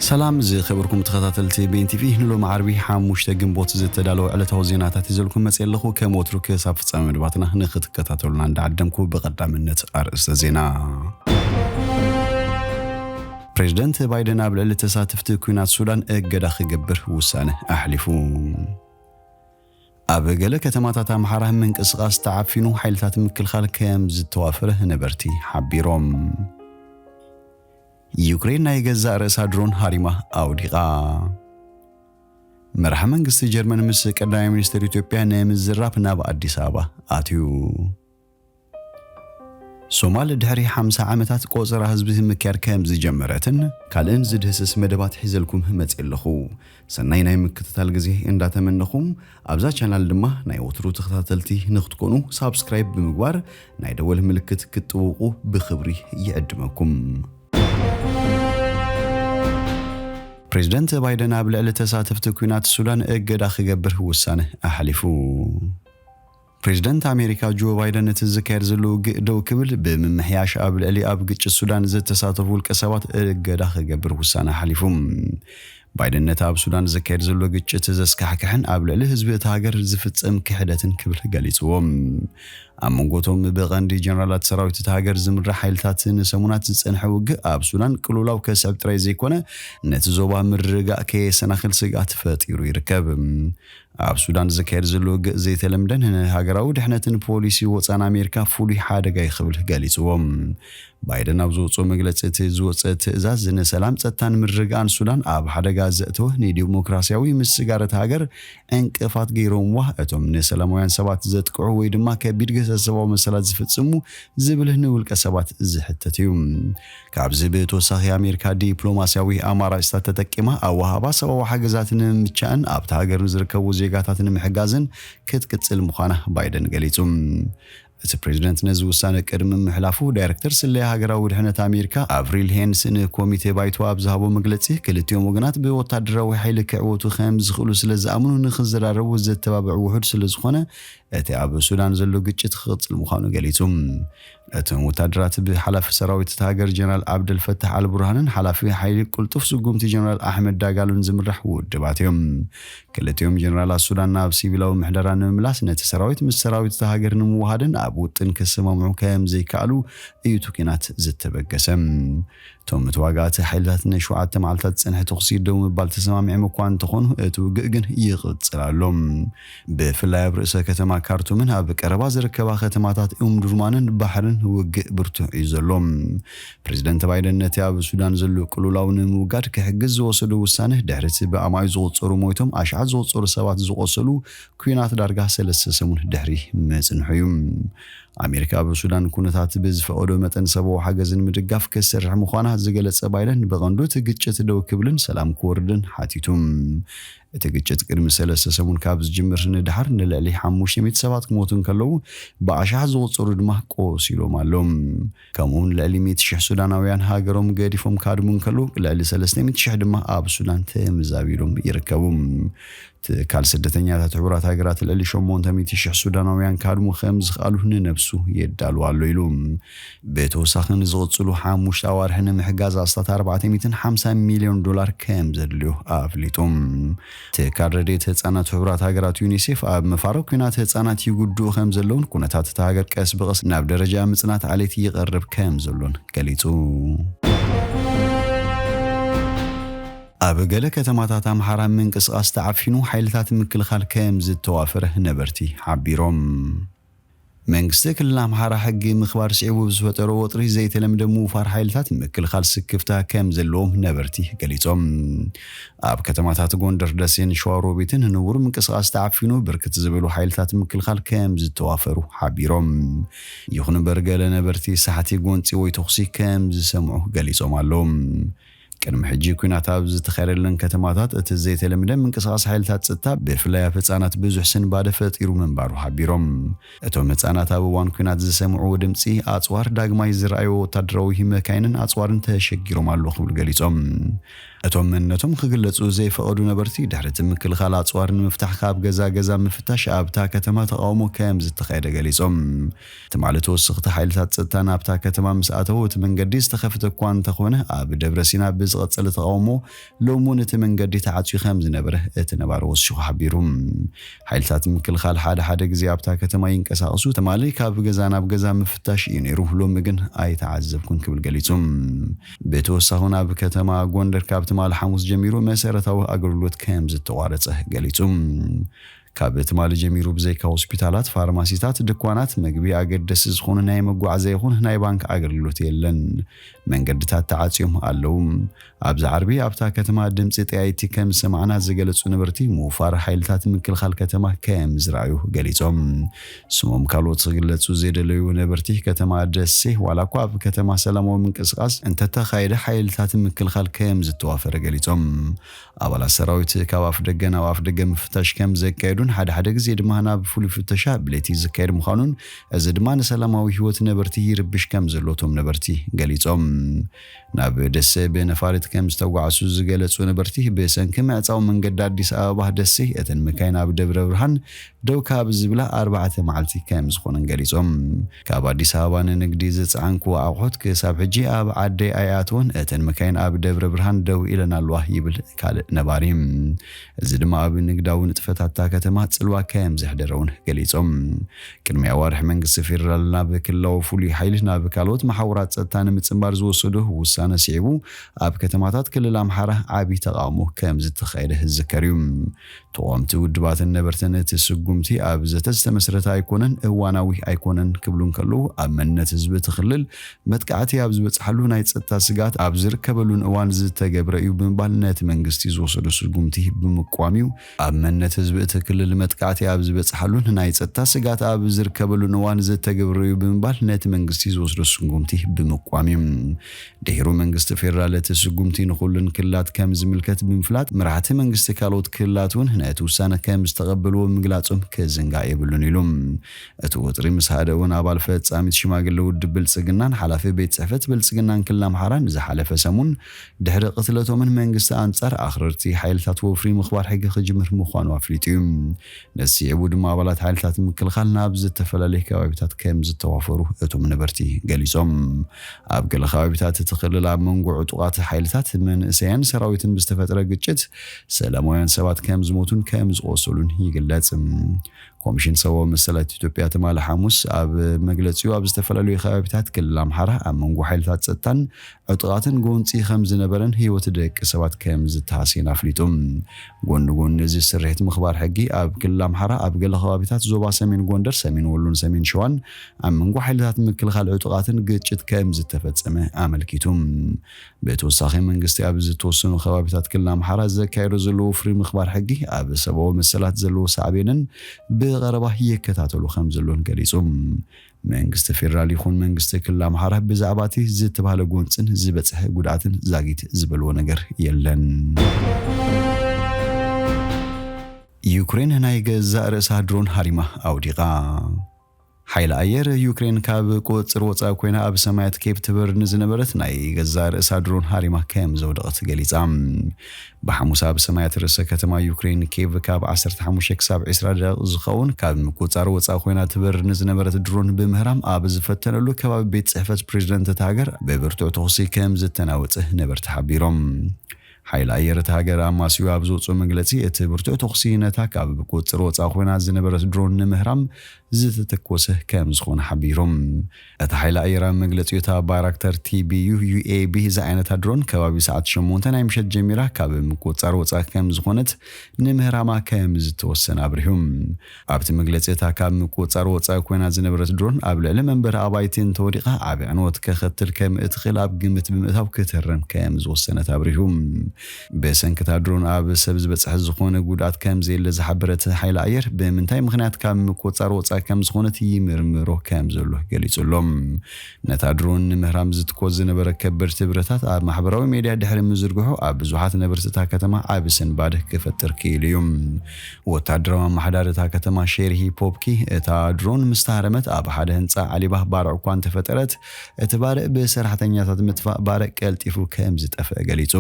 ሰላም ዝከበርኩም ተከታተልቲ ቤን ቲቪ ንሎሚ ዓርቢ ሓሙሽተ ግንቦት ዝተዳለወ ዕለታዊ ዜናታት ሒዘልኩም መጽየ ኣለኩ ከም ወትሩ ክሳብ ፍጻሜ መደባትና ንክትከታተሉና እንዳዓደምኩ ብቀዳምነት ኣርእስተ ዜና ፕሬዝደንት ባይደን ኣብ ልዕሊ ተሳተፍቲ ኩናት ሱዳን እገዳ ክገብር ውሳነ ኣሕሊፉ ኣብ ገለ ከተማታት ኣምሓራ ምንቅስቓስ ተዓፊኑ ሓይልታት ምክልኻል ከም ዝተዋፈረ ነበርቲ ሓቢሮም ዩክሬን ናይ ገዛእ ርእሳ ድሮን ሃሪማ ኣውዲቓ። መራሒ መንግስቲ ጀርመን ምስ ቀዳማይ ሚኒስትር ኢትዮጵያ ንምዝራብ ናብ ኣዲስ ኣበባ ኣትዩ። ሶማል ድሕሪ 50 ዓመታት ቆጸራ ህዝቢ ምክያድ ከም ዝጀመረትን ካልእን ዝድህስስ መደባት ሒዘልኩም መጽየ ኣለኹ። ሰናይ ናይ ምክትታል ግዜ እንዳ ተመነኹ ኣብዛ ቻናል ድማ ናይ ወትሩ ተኸታተልቲ ንክትኮኑ ሳብስክራይብ ብምግባር ናይ ደወል ምልክት ክትጥውቁ ብክብሪ ይዕድመኩም። ፕሬዝደንት ባይደን ኣብ ልዕሊ ተሳተፍቲ ኲናት ሱዳን እገዳ ክገብር ውሳነ ኣሕሊፉ። ፕሬዝደንት ኣሜሪካ ጆ ባይደን እቲ ዝካየድ ዘሎ ውግእ ደው ክብል ብምምሕያሽ ኣብ ልዕሊ ኣብ ግጭት ሱዳን ዝተሳተፉ ውልቀ ሰባት እገዳ ክገብር ውሳነ ሓሊፉ። ባይደን ነቲ ኣብ ሱዳን ዝካየድ ዘሎ ግጭት ዘስካሕክሕን ኣብ ልዕሊ ህዝቢ እታ ሃገር ዝፍጸም ክሕደትን ክብል ገሊጽዎ። ኣብ መንጎ እቶም ብቐንዲ ጀነራላት ሰራዊት እታ ሃገር ዝምራሕ ሓይልታት ንሰሙናት ዝጸንሐ ውግእ ኣብ ሱዳን ቅልውላው ከስዕብ ጥራይ ዘይኮነ ነቲ ዞባ ምርግጋእ ከየሰናኽል ስግኣት ፈጢሩ ይርከብ። ኣብ ሱዳን ዝካየድ ዘሎ ውግእ ዘይተለምደን ንሃገራዊ ድሕነትን ፖሊሲ ወጻን ኣሜሪካ ፍሉይ ሓደጋ'ዩ ክብል ገሊጽዎ። ባይደን ኣብ ዘውጽኦ መግለጺ እቲ ዝወጸ ትእዛዝ ንሰላም፣ ጸጥታን ምርግጋእን ሱዳን ኣብ ሓደጋ ዘእተወ፣ ንዲሞክራስያዊ ምስጋር እታ ሃገር ዕንቅፋት ገይሮምዋ፣ እቶም ንሰላማውያን ሰባት ዘጥቅዑ ወይ ድማ ከቢድ ግህሰት ሰብኣዊ መሰላት ዝፍጽሙ ዝብል ንውልቀ ሰባት ዝሕተት'ዩ። ካብዚ ብተወሳኺ ኣሜሪካ ዲፕሎማሲያዊ ኣማራጭታት ተጠቂማ ኣወሃህባ ሰብኣዊ ሓገዛት ንምምቻእን ኣብታ ሃገር ንዝርከቡ ዜጋታት ንምሕጋዝን ክትቅጽል ምዃና ባይደን ገሊጹ። እቲ ፕሬዝደንት ነዚ ውሳነ ቅድሚ ምሕላፉ ዳይረክተር ስለያ ሃገራዊ ድሕነት ኣሜሪካ ኣቭሪል ሄንስ ንኮሚቴ ባይቶ ኣብ ዝሃቦ መግለጺ ክልቲኦም ወገናት ብወታደራዊ ሓይሊ ክዕወቱ ከምዝኽእሉ ስለዝኣምኑ ንኽዘራረቡ ዘተባብዕ ውሑድ ስለዝኾነ እቲ ኣብ ሱዳን ዘሎ ግጭት ክቕጽል ምዃኑ ገሊጹ። እቶም ወታደራት ብሓላፊ ሰራዊት እታ ሃገር ጀነራል ኣብደል ፈታሕ ኣልቡርሃንን ሓላፊ ሓይሊ ቅልጡፍ ስጉምቲ ጀነራል ኣሕመድ ዳጋሎን ዝምራሕ ውድባት እዮም። ክልቲኦም ጀነራላት ሱዳን ናብ ሲቪላዊ ምሕደራ ንምምላስ ነቲ ሰራዊት ምስ ሰራዊት እታ ሃገር ንምውሃድን ኣብ ውጥን ክሰማምዑ ከምዘይከኣሉ እዩ እቲ ኲናት ዝተበገሰ። እቶም ተዋጋእቲ ሓይልታት ንሸውዓተ መዓልታት ዝጸንሐ ተኹሲ ደው ምባል ተሰማሚዖም እኳ እንተኾኑ እቲ ውግእ ግን ይቕጽል ኣሎ። ብፍላይ ኣብ ርእሰ ከተማ ካርቱምን ኣብ ቀረባ ዝርከባ ከተማታት ኡምዱርማንን ባሕርን ውግእ ብርቱዕ እዩ ዘሎ። ፕሬዝደንት ባይደን ነቲ ኣብ ሱዳን ዘሎ ቅልውላው ንምውጋድ ክሕግዝ ዝወሰዶ ውሳነ ድሕሪ እቲ ብኣማኢት ዝቑጸሩ ሞይቶም ኣሽሓት ዝቑጸሩ ሰባት ዝቖሰሉ ኲናት ዳርጋ ሰለስተ ሰሙን ድሕሪ ምጽንሑ እዩ። ኣሜሪካ ኣብ ሱዳን ኩነታት ብዝፈቐዶ መጠን ሰብኣዊ ሓገዝ ንምድጋፍ ክትሰርሕ ምዃና ዝገለጸ ባይደን ብቐንዱ እቲ ግጭት ደው ክብልን ሰላም ክወርድን ሓቲቱ። እቲ ግጭት ቅድሚ ሰለስተ ሰሙን ካብ ዝጅምር ንደሓር ንልዕሊ ሓሙሽተ ሚእቲ ሰባት ክሞቱ እንከለዉ ብኣሽሓት ዝቑጸሩ ድማ ቆሲሎም ኣሎም። ከምኡውን ልዕሊ ሚእቲ ሽሕ ሱዳናውያን ሃገሮም ገዲፎም ክሃድሙ እንከለዉ፣ ልዕሊ ሰለስተ ሚእቲ ሽሕ ድማ ኣብ ሱዳን ተመዛቢሎም ይርከቡ። ትካል ስደተኛታት ሕቡራት ሃገራት ልዕሊ ሸሞንተ ሚእቲ ሽሕ ሱዳናውያን ክሃድሙ ከም ዝኽኣሉ ንነብሱ የዳሉ ኣሎ ኢሉ። ብተወሳኺ ንዝቕጽሉ ሓሙሽተ ኣዋርሕ ንምሕጋዝ ኣስታት ኣርባዕተ ሚእትን ሓምሳን ሚልዮን ዶላር ከም ዘድልዮ ኣፍሊጡ። ትካል ረድኤት ህጻናት ሕቡራት ሃገራት ዩኒሴፍ ኣብ ምፋሮ ኲናት ህጻናት ይጉድኡ ከም ዘለዉን ኩነታት እታ ሃገር ቀስ ብቐስ ናብ ደረጃ ምጽናት ዓሌት ይቐርብ ከም ዘሎን ገሊጹ። ኣብ ገለ ከተማታት ኣምሓራ ምንቅስቓስ ተዓፊኑ ሓይልታት ምክልኻል ከም ዝተዋፈረ ነበርቲ ሓቢሮም። መንግስቲ ክልል ኣምሓራ ሕጊ ምኽባር ስዒቡ ብዝፈጠሮ ወጥሪ ዘይተለምደ ምውፋር ሓይልታት ንምክልኻል ስክፍታ ከምዘለዎም ነበርቲ ገሊፆም። ኣብ ከተማታት ጎንደር፣ ደሴን ሸዋሮቢትን ንቡር ምንቅስቓስ ተዓፊኑ ብርክት ዝበሉ ሓይልታት ምክልኻል ከምዝተዋፈሩ ሓቢሮም። ይኹን እምበር ገለ ነበርቲ ሳሕቲ ጎንፂ ወይ ተኹሲ ከምዝሰምዑ ገሊፆም ኣለው። ቅድሚ ሕጂ ኲናት ኣብ ዝተኻየደለን ከተማታት እቲ ዘይተለምደ ምንቅስቓስ ሓይልታት ጸጥታ ብፍላይ ኣብ ህጻናት ብዙሕ ስንባደ ፈጢሩ ምንባሩ ሓቢሮም። እቶም ህጻናት ኣብ እዋን ኲናት ዝሰምዕዎ ድምጺ ኣጽዋር ዳግማይ ዝረኣይዎ ወታደራዊ መካይንን ኣጽዋርን ተሸጊሮም ኣለዉ ክብሉ ገሊጾም። እቶም መንነቶም ክግለጹ ዘይፈቐዱ ነበርቲ ድሕሪ እቲ ምክልኻል ኣጽዋር ንምፍታሕ ካብ ገዛ ገዛ ምፍታሽ ኣብታ ከተማ ተቓውሞ ከምዝተኻየደ ገሊጾም። ትማሊ ተወሰኽቲ ሓይልታት ጸጥታ ናብታ ከተማ ምስ ኣተዉ እቲ መንገዲ ዝተኸፍተ እኳ እንተኾነ ኣብ ደብረሲና ብዝቐጸለ ተቓውሞ ሎሚ እውን እቲ መንገዲ ተዓጽዩ ከምዝነበረ እቲ ነባሪ ወሲኹ ሓቢሩ። ሓይልታት ምክልኻል ሓደ ሓደ ግዜ ኣብታ ከተማ ይንቀሳቐሱ፣ ትማሊ ካብ ገዛ ናብ ገዛ ምፍታሽ እዩ ነይሩ፣ ሎሚ ግን ኣይተዓዘብኩን ክብል ገሊጹ። ብተወሳኺ እውን ኣብ ከተማ ጎንደር ካብ ትማሊ ሓሙስ ጀሚሩ መሰረታዊ ኣገልግሎት ከምዝተቋረጸ ገሊጹ። ካብ ትማሊ ጀሚሩ ብዘይካ ሆስፒታላት፣ ፋርማሲታት፣ ድኳናት መግቢ ኣገደሲ ዝኾኑ ናይ መጓዓዝያ ይኹን ናይ ባንክ ኣገልግሎት የለን። መንገድታት ተዓጽዮም ኣለዉ። ኣብዚ ዓርቢ ኣብታ ከተማ ድምጺ ጠያይቲ ከም ዝሰማዕና ዝገለጹ ነበርቲ ምውፋር ሓይልታት ምክልኻል ከተማ ከም ዝረኣዩ ገሊጾም። ስሞም ካልኦት ክግለጹ ዘይደለዩ ነበርቲ ከተማ ደሴ ዋላ እኳ ኣብ ከተማ ሰላማዊ ምንቅስቓስ እንተተኻየደ ሓይልታት ምክልኻል ከም ዝተዋፈረ ገሊጾም። ኣባላት ሰራዊት ካብ ኣፍደገ ናብ ኣፍደገ ምፍታሽ ከም ዘካየዱን ሓደ ሓደ ግዜ ድማ ናብ ፍሉይ ፍተሻ ብለይቲ ዝካየድ ምዃኑን እዚ ድማ ንሰላማዊ ህይወት ነበርቲ ይርብሽ ከም ዘሎ እቶም ነበርቲ ገሊፆም። ናብ ደሴ ብነፋሪት ከም ዝተጓዕሱ ዝገለፁ ነበርቲ ብሰንኪ ምዕፃው መንገዲ ኣዲስ ኣበባ ደሴ እተን መካይን ኣብ ደብረብርሃን ደው ካብ ዝብላ ኣርባዕተ መዓልቲ ከምዝኾነን ገሊፆም። ካብ ኣዲስ ኣበባ ንንግዲ ዝፀዓንክዎ ኣቑሑት ክሳብ ሕጂ ኣብ ዓደይ ኣይኣተወን፣ እተን መካይን ኣብ ደብረ ብርሃን ደው ኢለን ኣለዋ ይብል ካልእ ነባሪ። እዚ ድማ ኣብ ንግዳዊ ንጥፈታት እታ ከተማ ፅልዋ ከምዘሕደረ እውን ገሊፆም። ቅድሚ ኣዋርሕ መንግስቲ ፌደራል ናብ ክልላዊ ፍሉይ ሓይሊ ናብ ካልኦት መሓውራት ፀጥታ ንምፅምባር ዝወሰዶ ውሳነ ስዒቡ ኣብ ከተማታት ክልል ኣምሓራ ዓብዪ ተቓውሞ ከምዝተኻየደ ዝዝከር እዩ። ተቋምቲ ውድባትን ነበርትን እቲ ስጉምቲ ኣብ ዘተ ዝተመስረተ ኣይኮነን፣ እዋናዊ ኣይኮነን ክብሉ እንከለዉ፣ ኣብ መንነት ህዝቢ እቲ ክልል መጥቃዕቲ ኣብ ዝበጽሓሉ ናይ ጸጥታ ስግኣት ኣብ ዝርከበሉን እዋን ዝተገብረ እዩ ብምባል ነቲ መንግስቲ ዝወሰዶ ስጉምቲ ብምቅዋም እዩ ኣብ መንነት ህዝቢ እቲ ክልል መጥቃዕቲ ኣብ ዝበጽሓሉን ናይ ጸጥታ ስግኣት ኣብ ዝርከበሉን እዋን ዝተገብረ እዩ ብምባል ነቲ መንግስቲ ዝወስዶ ስጉምቲ ብምቅዋም እዩ ድሒሩ መንግስቲ ፌደራል እቲ ስጉምቲ ንኹሉን ክልላት ከም ዝምልከት ብምፍላጥ መራሕቲ መንግስቲ ካልኦት ክልላት እውን ነቲ ውሳነ ከም ዝተቐበልዎ ምግላፆም ክዝንጋዕ የብሉን ኢሉ። እቲ ወጥሪ ምስ ሃደእ እውን ኣባል ፈፃሚት ሽማግለ ውድብ ብልፅግናን ሓላፊ ቤት ፅሕፈት ብልፅግናን ክልል ኣምሓራ ንዝሓለፈ ሰሙን ድሕሪ ቅትለቶምን መንግስቲ ኣንፃር ኣኽረርቲ ሓይልታት ወፍሪ ምኽባር ሕጊ ክጅምር ምዃኑ ኣፍሊጡ እዩ። ነዚ ስዒቡ ድማ ኣባላት ሓይልታት ምክልኻል ናብ ዝተፈላለየ ከባቢታት ከምዝተዋፈሩ እቶም ነበርቲ ገሊፆም። ኣብ ገለ ከባቢታት እቲ ክልል ኣብ መንጎ ዕጡቓት ሓይልታት መንእሰያን ሰራዊትን ብዝተፈጥረ ግጭት ሰላማውያን ሰባት ከምዝሞቱን ከምዝቖሰሉን ይግለፅ። ኮሚሽን ሰብኣዊ መሰላት ኢትዮጵያ ትማሊ ሓሙስ ኣብ መግለፂኡ ኣብ ዝተፈላለዩ ከባቢታት ክልል ኣምሓራ ኣብ መንጎ ሓይልታት ፀጥታን ዕጥቓትን ጎንፂ ከም ዝነበረን ህይወት ደቂ ሰባት ከም ዝተሃስየን ኣፍሊጡ። ጎኒ ጎኒ እዚ ስርሒት ምኽባር ሕጊ ኣብ ክልል ኣምሓራ ኣብ ገለ ከባቢታት ዞባ ሰሜን ጎንደር፣ ሰሜን ወሎን ሰሜን ሸዋን ኣብ መንጎ ሓይልታት ምክልኻል ዕጡቓትን ግጭት ከም ዝተፈፀመ ኣመልኪቱ። ብተወሳኺ መንግስቲ ኣብ ዝተወሰኑ ከባቢታት ክልል ኣምሓራ ዘካየዶ ዘሎ ወፍሪ ምኽባር ሕጊ ኣብ ሰብኣዊ መሰላት ዘለዎ ሳዕቤንን ብቐረባ ይከታተሎ ከም ዘሎን ገሊፁ። መንግስቲ ፌደራል ይኹን መንግስቲ ክልል ኣምሓራ ብዛዕባ እቲ ዝተባህለ ጎንፅን ዝበፅሐ ጉድኣትን ዛጊት ዝበልዎ ነገር የለን። ዩክሬን ናይ ገዛእ ርእሳ ድሮን ሃሪማ ኣውዲቓ። ሓይሊ ኣየር ዩክሬን ካብ ቁፅፅር ወፃኢ ኮይና ኣብ ሰማያት ኬፕ ትበር ንዝነበረት ናይ ገዛእ ርእሳ ድሮን ሃሪማ ከም ዘውደቐት ገሊፃ። ብሓሙስ ኣብ ሰማያት ርእሰ ከተማ ዩክረይን ኬቭ ካብ ዓሰርተ ሓሙሽተ ክሳብ ዕስራ ደቓይቕ ዝኸውን ካብ ምቁጽጻር ወጻኢ ኮይና ትበርር ንዝነበረት ድሮን ብምህራም ኣብ ዝፈተነሉ ከባቢ ቤት ጽሕፈት ፕሬዝደንት እታ ሃገር ብብርቱዕ ተኹሲ ከም ዝተናወጸ ነበርቲ ሓቢሮም። ሓይሊ ኣየር እታ ሃገር ኣማስዩ ኣብ ዘውጽኦ መግለጺ እቲ ብርቱዕ ተኹሲ ነታ ካብ ብቁጽጽር ወጻኢ ኮይና ዝነበረት ድሮን ንምህራም ዝተተኮሰ ከም ዝኾነ ሓቢሩ። እቲ ሓይሊ ኣየር ኣብ መግለጺኡ እታ ባይራክታር ቲቢዩ UAB ዝዓይነታ ድሮን ከባቢ ሰዓት ሸሞንተ ናይ ምሸት ጀሚራ ካብ ምቁጽጻር ወጻኢ ከም ዝኾነት ንምህራማ ከም ዝተወሰነ ኣብሪሁ። ኣብቲ መግለጺ እታ ካብ ምቁጽጻር ወጻኢ ኮይና ዝነበረት ድሮን ኣብ ልዕሊ መንበሪ ኣባይቲ እንተወዲቓ ዓቢ ዕንወት ከኸትል ከም እትኽእል ኣብ ግምት ብምእታው ክትህረም ከም ዝወሰነት ኣብሪሁ። ብሰንኪ እታ ድሮን ኣብ ሰብ ዝበጽሐ ዝኾነ ጉድኣት ከምዘየለ ዝሓበረት ሓይሊ ኣየር፣ ብምንታይ ምኽንያት ካብ ምቁጽጻር ወጻኢ ከምዝኾነት ይምርምሮ ከምዘሎ ገሊጹ ኣሎ። ነታ ድሮን ንምህራም ዝትኮስ ዝነበረ ከበድቲ ብረታት ኣብ ማሕበራዊ ሜድያ ድሕሪ ምዝርግሑ ኣብ ብዙሓት ነበርቲ እታ ከተማ ዓቢ ስንባደ ክፈጥር ክኢሉ እዩ። ወተሃደራዊ ኣመሓዳሪ እታ ከተማ ሼርሂ ፖፕኪ፣ እታ ድሮን ምስ ተሃረመት ኣብ ሓደ ህንጻ ዓሊባ ባርዕ እኳ እንተፈጠረት፣ እቲ ባርዕ ብሰራሕተኛታት ምጥፋእ ባርዕ ቀልጢፉ ከም ዝጠፍእ ገሊጹ።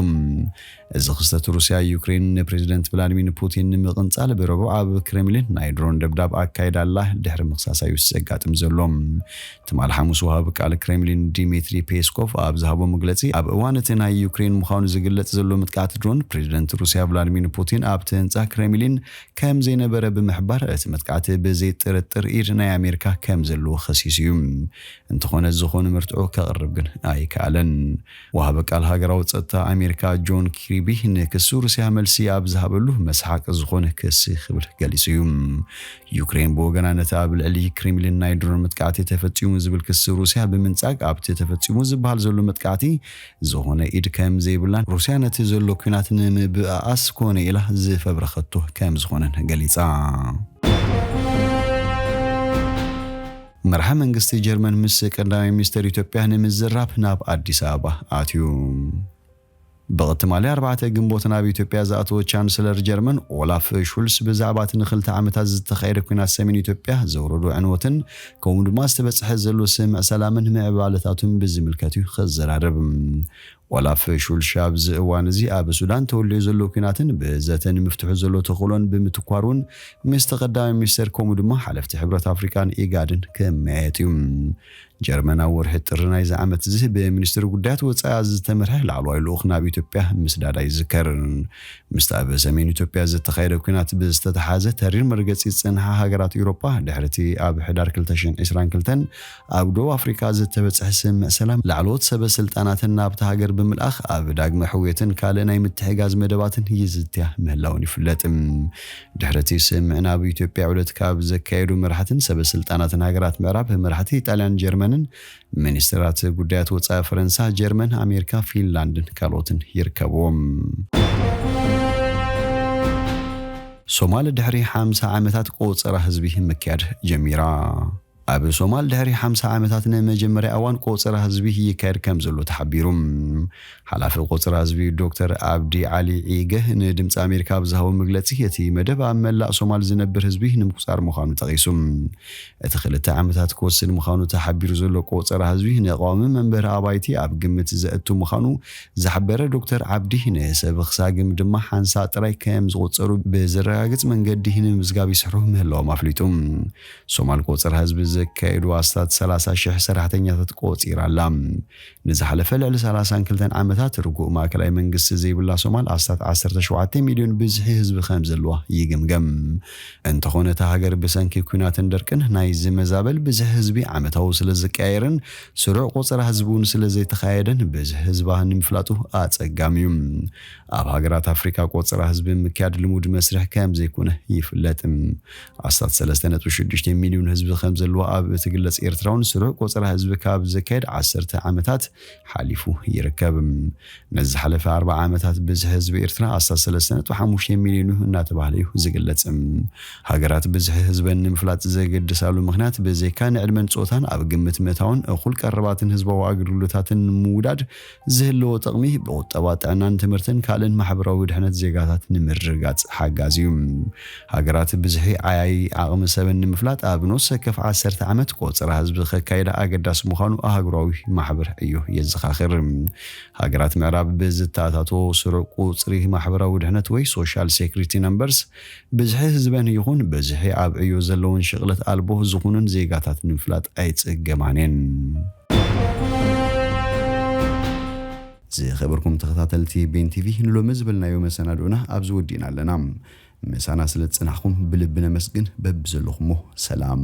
እዚ ክስተት ሩስያ ዩክሬን ንፕሬዚደንት ቭላድሚር ፑቲን ንምቕንጻል ብረቡዕ ኣብ ክሬምሊን ናይ ድሮን ደብዳብ ኣካይዳ ኣላ ድሕሪ ምኽሳሳ እዩ ዘጋጥም ዘሎ። ትማል ሓሙስ ወሃቢ ቃል ክሬምሊን ዲሚትሪ ፔስኮቭ ኣብ ዝሃቦ መግለጺ ኣብ እዋን እቲ ናይ ዩክሬን ምዃኑ ዝግለጽ ዘሎ ምጥቃዕት ድሮን ፕሬዚደንት ሩስያ ቭላድሚር ፑቲን ኣብቲ ህንጻ ክሬምሊን ከም ዘይነበረ ብምሕባር እቲ መጥቃዕቲ ብዘይ ጥርጥር ኢድ ናይ ኣሜሪካ ከም ዘለዎ ከሲሱ እዩ። እንተኾነ ዝኾነ መርትዖ ከቕርብ ግን ኣይከኣለን። ወሃቢ ቃል ሃገራዊ ጸጥታ ኣሜሪካ ጆን ኪርቢ ንክሲ ሩስያ መልሲ ኣብ ዝሃበሉ መስሓቂ ዝኾነ ክሲ ክብል ገሊጹ እዩ። ዩክሬን ብወገና ነቲ ኣብ ልዕሊ ክሬምሊን ናይ ድሮን መጥቃዕቲ ተፈጺሙ ዝብል ክሲ ሩስያ ብምንጻግ ኣብቲ ተፈጺሙ ዝበሃል ዘሎ መጥቃዕቲ ዝኾነ ኢድ ከም ዘይብላን ሩስያ ነቲ ዘሎ ኲናት ንምብእኣስ ኮነ ኢላ ዝፈብረኸቶ ከም ዝኾነን ገሊጻ። መራሒ መንግስቲ ጀርመን ምስ ቀዳማይ ሚኒስተር ኢትዮጵያ ንምዝራብ ናብ ኣዲስ ኣበባ ኣትዩ። ብቅ ትማሊ ኣርባዕተ ግንቦት ናብ ኢትዮጵያ ዝኣተወ ቻንስለር ጀርመን ኦላፍ ሹልስ ብዛዕባ እቲ ንክልተ ዓመታት ዝተኻየደ ኲናት ሰሜን ኢትዮጵያ ዘውረዶ ዕንወትን ከምኡ ድማ ዝተበጽሐ ዘሎ ስምምዕ ሰላምን ምዕባለታቱን ብዝምልከት'ዩ ክዘራረብ ዋላ ፍሹል ሺ ኣብዚ እዋን እዚ ኣብ ሱዳን ተወሊዑ ዘሎ ኲናትን ብዘተ ንምፍትሑ ዘሎ ተኽእሎን ብምትኳር እውን ምስቲ ቀዳማይ ሚኒስተር ከምኡ ድማ ሓለፍቲ ሕብረት ኣፍሪቃን ኢጋድን ክመያየጥ እዩ። ጀርመን ኣብ ወርሒ ጥሪ ናይዚ ዓመት'ዚ ብሚኒስትሪ ጉዳያት ወጻኢኣ ዝተመርሐ ላዕለዋይ ልኡኽ ናብ ኢትዮጵያ ምስዳዳ ይዝከር። ምስቲ ኣብ ሰሜን ኢትዮጵያ ዝተኻየደ ኲናት ብዝተተሓሓዘ ተሪር መርገጺ ዝጸንሓ ሃገራት ኤውሮጳ ድሕሪ'ቲ ኣብ ሕዳር ክልተ ሽሕን ዕስራን ክልተን ኣብ ደቡብ ኣፍሪቃ ዝተበጽሐ ስምምዕ ሰላም፣ ላዕለዎት ሰበ ስልጣናትን ናብታ ሃገር ብምልኣኽ ኣብ ዳግመ ሕውየትን ካልእ ናይ ምትሕግጋዝ መደባትን ይዝትያ ምህላወን ይፍለጥ። ድሕሪ'ቲ ስምምዕ ናብ ኢትዮጵያ ዑደት ካብ ዘካየዱ መራሕትን ሰበ ስልጣናትን ሃገራት ምዕራብ፣ መራሕቲ ኢጣልያን ጀርመንን፣ ሚኒስተራት ጉዳያት ወጻኢ ፈረንሳ፣ ጀርመን፣ ኣሜሪካ፣ ፊንላንድን ካልኦትን ይርከብዎም። ሶማል ድሕሪ ሓምሳ ዓመታት ቆጸራ ህዝቢ ምክያድ ጀሚራ። ኣብ ሶማል ድሕሪ ሓምሳ ዓመታት ንመጀመርያ እዋን ቆፀራ ህዝቢ ይካየድ ከምዘሎ ተሓቢሩ። ሓላፊ ቆፀራ ህዝቢ ዶክተር ኣብዲ ዓሊ ዒገ ንድምፂ ኣሜሪካ ኣብ ዝሃቦ መግለፂ እቲ መደብ ኣብ መላእ ሶማል ዝነብር ህዝቢ ንምቁፃር ምዃኑ ጠቒሱ። እቲ ክልተ ዓመታት ክወስድ ምዃኑ ተሓቢሩ ዘሎ ቆፀራ ህዝቢ ንቀዋሚ መንበሪ ኣባይቲ ኣብ ግምት ዘእቱ ምዃኑ ዝሓበረ ዶክተር ዓብዲ ንሰብኽ ሳግም ድማ ሓንሳእ ጥራይ ከምዝቑፀሩ ብዘረጋግፅ መንገዲ ንምምዝጋብ ይስርሑ ምህላዎም ኣፍሊጡ። ሶማል ቆፀራ ህዝቢ ዘካየዱ ኣስታት ሰላሳ ሽሕ ሰራሕተኛታት ቆፂራ ኣላ። ንዝሓለፈ ልዕሊ ሰላሳን ክልተን ዓመታት ርጉእ ማእከላይ መንግስቲ ዘይብላ ሶማል ኣስታት ዓሰርተ ሸውዓተ ሚልዮን ብዝሒ ህዝቢ ከምዘለዋ ይግምገም። እንተኾነ እታ ሃገር ብሰንኪ ኲናትን ደርቅን ናይ ዝመዛበል ብዝሒ ህዝቢ ዓመታዊ ስለዝቀያየርን ስሩዕ ቆፀራ ህዝቢ እውን ስለዘይተኻየደን ብዝሒ ህዝባ ንምፍላጡ ኣፀጋሚ እዩ። ኣብ ሃገራት ኣፍሪቃ ቆፀራ ህዝቢ ምክያድ ልሙድ መስርሕ ከምዘይኮነ ይፍለጥ። ኣስታት ሰለስተ ነጥቢ ሽዱሽተ ሚልዩን ህዝቢ ከምዘለዎ ኣብ እትግለጽ ኤርትራውን ስሩዕ ቆጸራ ህዝቢ ካብ ዝካየድ ዓሰርተ ዓመታት ሓሊፉ ይርከብ። ነዚ ዝሓለፈ ኣርብዓ ዓመታት ብዝሒ ህዝቢ ኤርትራ ኣስታት ሰለስተ ነጥቢ ሓሙሽተ ሚልዩን'ዩ እናተባህለ እዩ ዝግለጽ። ሃገራት ብዝሒ ህዝበን ንምፍላጥ ዘገድሳሉ ምኽንያት ብዘይካ ንዕድመን ጾታን ኣብ ግምት ምእታውን እኹል ቀረባትን ህዝባዊ ኣገልግሎታትን ንምውዳድ ዝህልዎ ጥቕሚ ብቑጠባ፣ ጥዕናን ትምህርትን ካልእን ማሕበራዊ ድሕነት ዜጋታት ንምርግጋጽ ሓጋዚ እዩ። ሃገራት ብዝሒ ዓያዪ ዓቕሚ ሰበን ንምፍላጥ ኣብ ነፍሲ ወከፍ ዓሰርተ ዓመት ቆጸራ ህዝቢ ከካይዳ ኣገዳሲ ምዃኑ ኣህጉራዊ ማሕበር ዕዮ የዘኻኽር። ሃገራት ምዕራብ ብዝተኣታቶ ስሩዕ ቁጽሪ ማሕበራዊ ድሕነት ወይ Social Security Numbers ብዝሒ ህዝበን ይኹን ብዝሒ ኣብ ዕዮ ዘለወን ሽቕለት ኣልቦ ዝኹኑን ዜጋታት ንምፍላጥ ኣይጽገማን እየን። ዝኸበርኩም ተኸታተልቲ ቤን ቲቪ ንሎሚ ዝበልናዮ መሰናድኦና ኣብዚ ወዲእና ኣለና። ምሳና ስለ ዝጸናሕኩም ብልቢ ነመስግን። በብዘለኹሞ ሰላም።